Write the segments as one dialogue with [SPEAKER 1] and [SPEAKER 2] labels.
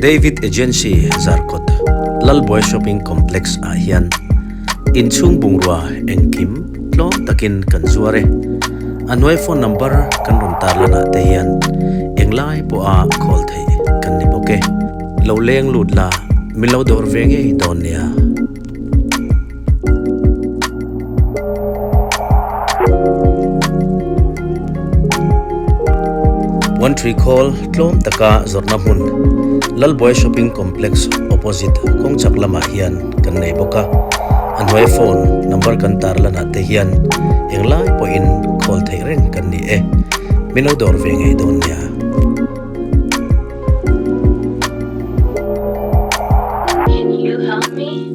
[SPEAKER 1] David Agency Zarkawt Lalbuai Shopping Complex ah hian inchhung bungrua engkim tlawm takin kan zuar e. A hnuai phone number kan rawn tar lanah te hian englai pawha call theih kan ni bawk e. Lo leng lut la, min lo dawr ve ngei dawn nia. One Tree Call tlawm taka zawrhna hmun Lalbuai Shopping Complex opposite Kawngchak lamah hian kan nei bawk a, a hnuai phone number kan tar lanah te hian eng lai pawhin call theih reng kan ni e. Min lo dawr ve ngei dawn nia. Can you help me?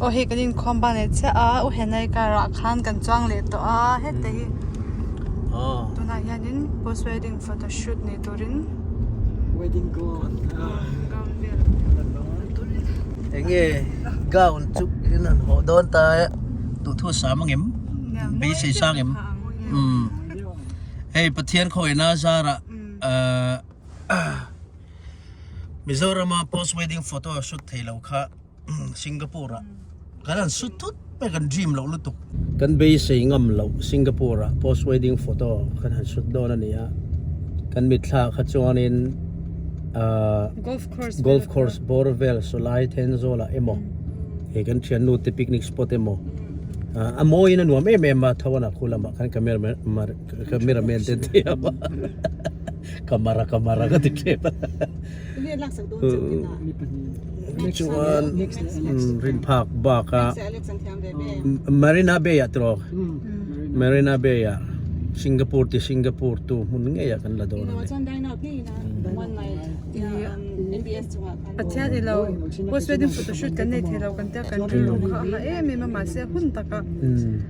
[SPEAKER 1] Aw hei kan inkhawm ban leh chiah a, u Henai karah khan kan chuang leh tawh a heta hi tunah hianin post wedding photo shoot nih turin wedding gown vel eng nge gown chu in an haw dawn ta e tawh thu sam angem beisei sa angem hei pathian khawina zarah Mizoram a post wedding photo a shoot thei lo kha Singapore ah kan han shoot thut mai kan dream lo lutuk kan beisei ngam lo Singapore ah post wedding photo kan han shoot dawn a ni a kan mitthla kha chuanin golf course golf course bawr vel Sulai Thenzawl ah emaw he kan thiannu te picnic spot emaw a mawi in a nuam em em a tho an a khu lamah kan camera man camera man te thei a camera camera ka ti thlep a chuan rin phak bak a marina bay ah tawh marina bay ah singapore ti singapore tu hmun ngei ah kan la dawn a ni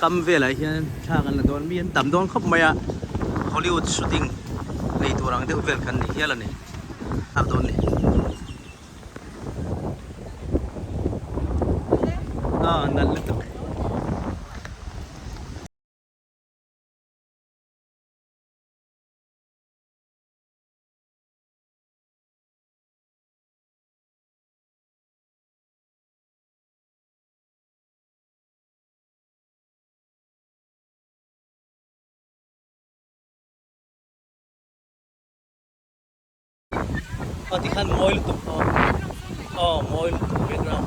[SPEAKER 1] Kam velah hian thlak an la dawn mi an tam dawn khawp mai a, Hollywood shooting nei tur ang deuh vel kan nih hial a ni, thlak dawn ni. Aw nalh lutuk. Aw ti khan mawi lutuk aw aw mawi lutuk background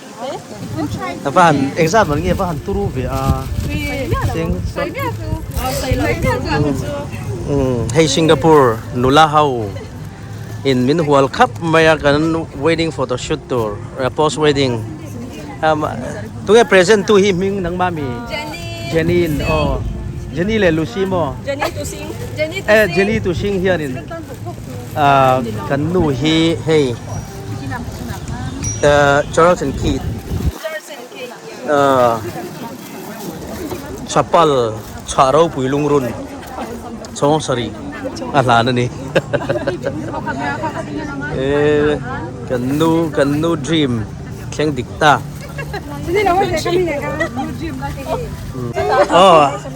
[SPEAKER 1] Hei Singapore nula ho in min hual khap mai a kan wedding photo shoot tur post wedding tunge present tu hi hming nangma mi Jenny in aw Jenny leh Lucy maw Jenny Tusing hian in kan nu hi hei. Charles and Keith chapal chhah ropui lungrun chhawng sarih a hlan a ni e kan nu kan nu dream thleng dik ta oh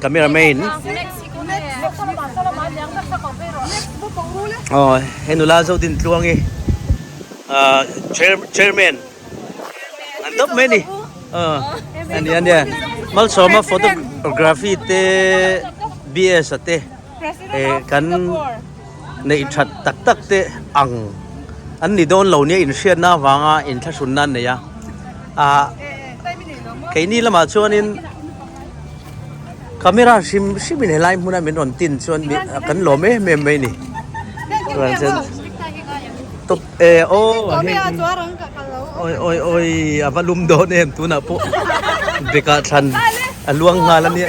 [SPEAKER 1] camera main oh he nula zo din tluang hi ah chairman an dawp mai ni ah ania ania malsawma photography te bsa te. President of Singapore. Kan neih that tak tak te ang an ni dawn lo nia inhriatna avanga inthlahrun nan nei a ah keini lamah chuanin camera hrim hrim in helai hmuna min rawn tin chuan kan lawm em em mai ni chuan chen top-- E aww a heng in aww aww aww a va lum dawn em tunah pawh bag ah thlan a luang nghal a nia.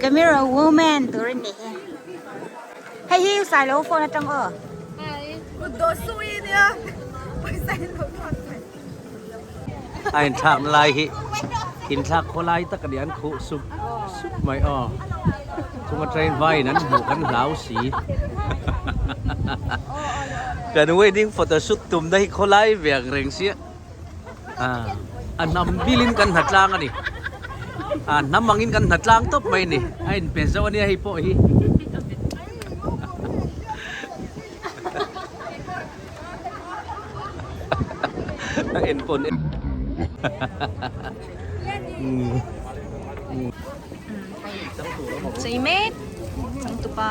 [SPEAKER 1] Camera woman tur a ni hi. Hei hi u Sailo phone atang aw. Hi. U do sui nia. Pai Sailo phone pai. Ai thak lai hi. In thak kho lai tak ani an khu sup sup mai aw. Chunga train vai nan mu kan hlau si. Kan wedding photoshoot tumna hi kho lai vek reng si. Ah, a hnam bilin kan hna tlang a ni. Ah, hnam angin kan hna tlang tawp mai a ni. A inpe zauh a nia hei pawh hi. A en pawh en duh. Chei mek changtupa.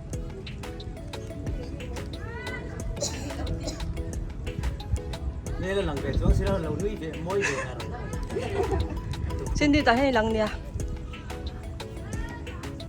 [SPEAKER 1] Nela lang ve chuang sira lo nui ve moi ve ta ro. Cindy ta hei lang nia.